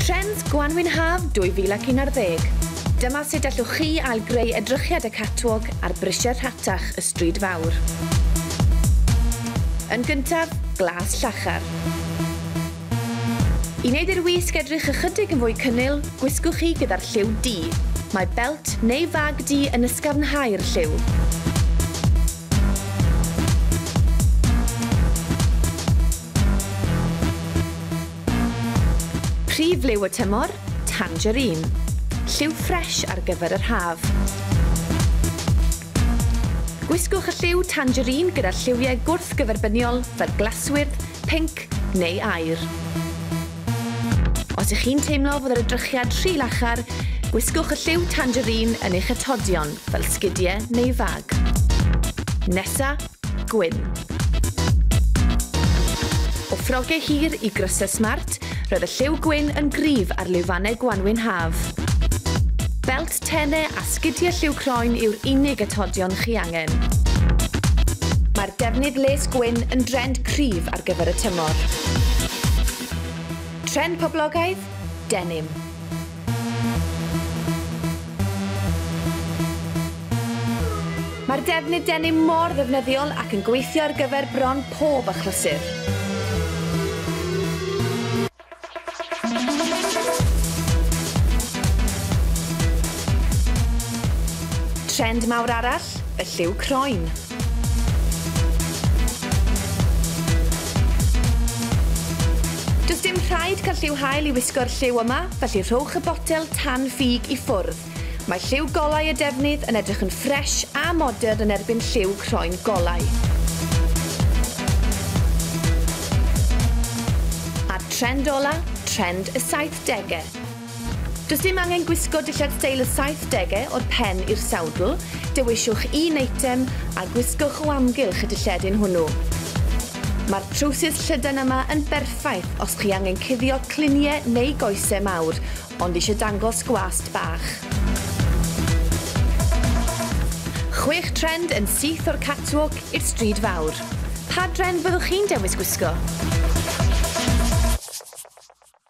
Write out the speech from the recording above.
Trends Gwanwyn Haf 2011 Dyma sut allwch chi ail-greu edrychiad y catwalk ar brisiau rhatach y Stryd Fawr. Yn gyntaf, glas llachar. I wneud i'r wisg edrych ychydig yn fwy cynnil, gwisgwch hi gyda'r lliw du. Mae belt neu fag du yn ysgafnhau'r lliw. Prif liw y tymor, tangerine. Lliw ffres ar gyfer yr haf. Gwisgwch y lliw tangerine gyda lliwiau gwrthgyferbyniol fel glaswyrdd, pinc neu aur. Os ych chi'n teimlo fod yr edrychiad rhy lachar, gwisgwch y lliw tangerine yn eich atodion fel sgidiau neu fag. Nesa, Gwyn. O ffrogau hir i grysau smart, roedd y lliw gwyn yn gryf ar lwyfannau gwanwyn haf. Belt tenau a sgidiau lliw croen yw'r unig atodion chi angen. Mae'r defnydd les gwyn yn drend cryf ar gyfer y tymor. Trend poblogaidd? Denim. Mae'r defnydd denim mor ddefnyddiol ac yn gweithio ar gyfer bron pob achlysur. Trend mawr arall, y lliw croen. Does dim rhaid cael lliw hael i wisgo'r lliw yma, felly rhowch y botel tan ffug i ffwrdd. Mae lliw golau y defnydd yn edrych yn ffresh a modern yn erbyn lliw croen golau. A'r trend ola, trend y saithdege. Does dim angen gwisgo dillad steil y saithdegau o'r pen i'r sawdl, dewiswch un eitem a gwisgwch o amgylch y dilledyn hwnnw. Mae'r trowsus llydan yma yn berffaith os chi angen cuddio cluniau neu goesau mawr ond eisiau dangos gwast bach. Chwech trend yn syth o'r catwalk i'r stryd fawr. Pa drend fyddwch chi'n dewis gwisgo?